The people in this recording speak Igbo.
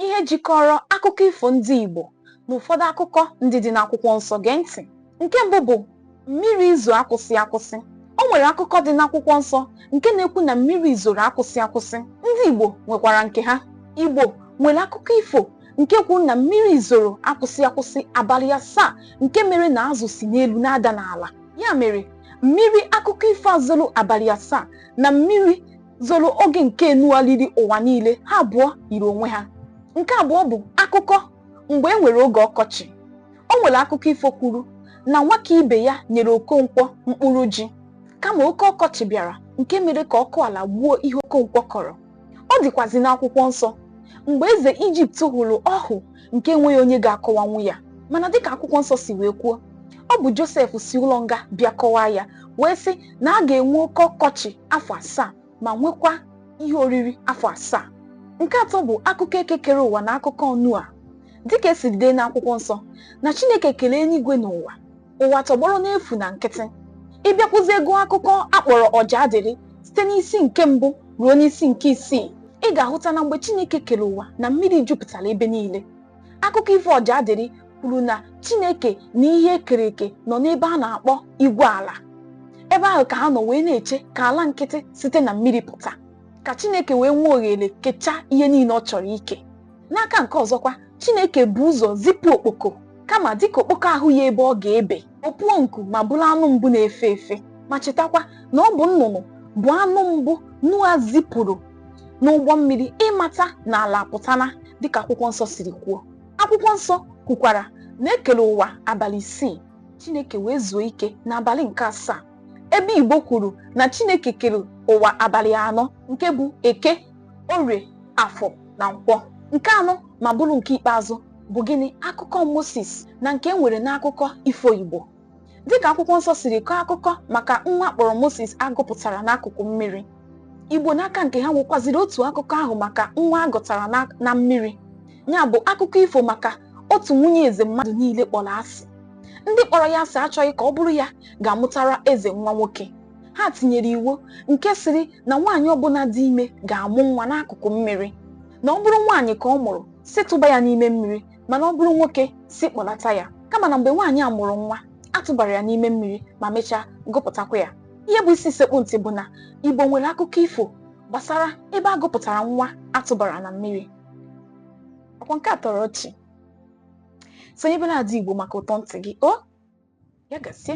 ihe jikọrọ akụkọ ifo ndị Igbo na ụfọdụ akụkọ ndị dị n'akwụkwọ nsọ gee ntị nke mbụ bụ mmiri izo akwụsị akwụsị o nwere akụkọ dị n'akwụkwọ nsọ nke na-ekwu na mmiri zoro akwụsị akwụsị ndị Igbo nwekwara nke ha Igbo nwere akụkọ ifo nke kwuru na mmiri zoro akwụsị akwụsị abalị asaa nke mere na azụ si n'elu na-ada n'ala ya mere mmiri akụkọ ifo a zoro abalị asaa na mmiri zoro oge nke Noa riri ụwa niile ha abụọ yiri onwe ha nke abụọ bụ akụkọ mgbe e nwere oge ọkọchị o nwere akụkọ ifo kwuru na Nwakaibeya nyere okonkwo mkpụrụ ji kama oke ọkọchị bịara nke mere ka ọkụ ala gbuo ihe okonkwo kọrọ ọ dịkwazi n'akwụkwọ nsọ mgbe eze ijipt hụrụ ọhụ nke enweghị onye ga-akọwanwu ya mana dịka akwụkwọ nsọ si wee kwuo ọ bụ josef si ụlọ nga bịa kọwaa ya wee sị na a ga-enwe oke ọkọchị afọ asaa ma nwekwa ihe oriri afọ asaa nke atọ bụ akụkọ eke kere ụwa na akụkọ Noa dịka e siri dee n'akwụkwọ nsọ na chineke kelee eluigwe na ụwa ụwa tọgbọrọ n'efu na nkịtị ị bịakwuzie gụọ akụkọ a kpọrọ Ọjaadịlị site n'isi nke mbụ ruo n'isi nke isii ị ga-ahụta na mgbe Chineke kere ụwa na mmiri jupụtara ebe niile akụkọ ifo Ọjaadịlị kwuru na Chineke na ihe e kere eke nọ n'ebe a na-akpọ igwe ala ebe ahụ ka ha nọ wee na-eche ka ala nkịtị site na mmiri pụta ka Chineke wee nwee ohere kechaa ihe niile ọ chọrọ ike n'aka nke ọzọkwa chineke bu ụzọ zipụ okpoko kama dịka okpoko ahụghị ebe ọ ga-ebe o puo nku ma bụrụ anụ mbụ na-efe efe ma chetakwa na ọ bụ nnụnụ bụ anụ mbụ Noa zipụrụ n'ụgbọ mmiri ịmata na ala apụtana dịka akwụkwọ nsọ siri kwuo akwụkwọ nsọ kwukwara na e kere ụwa abalị isii chineke wee zuo ike n'abalị nke asaa ebe igbo kwuru na chineke kere ụwa abalị anọ nke bụ eke orie afọ na nkwọ nke anọ ma bụrụ nke ikpeazụ bụ gịnị akụkọ Moses na nke e nwere n'akụkọ ifo Igbo dịka akwụkwọ nsọ siri kọọ akụkọ maka nwa a kpọrọ Moses a gụpụtara n'akụkụ mmiri Igbo n'aka nke ha nwekwaziri otu akụkọ ahụ maka nwa a gụtara na mmiri ya bụ akụkọ ifo maka otu nwunye eze mmadụ niile kpọrọ asị ndị kpọrọ ya asị achọghị ka ọ bụrụ ya ga-amụtara eze nwa nwoke ha tinyere iwu nke sịrị na nwaanyị ọbụla dị ime ga-amụ nwa n'akụkụ mmiri na ọ bụrụ nwaanyị ka ọ mụrụ sị tụba ya n'ime mmiri mana ọ bụrụ nwoke sị kpọlata ya kama na mgbe nwaanyị a mụrụ nwa a tụbara ya n'ime mmiri ma mechaa gụpụtakwa ya ihe bụ isi sekpu ntị bụ na igbo nwere akụkọ ifo gbasara ebe a gụpụtara nwa a tụbara na mmiri ọkwa nke a tọrọ ọchị sonyebela ada igbo maka ụtọ ntị gị o ya gazie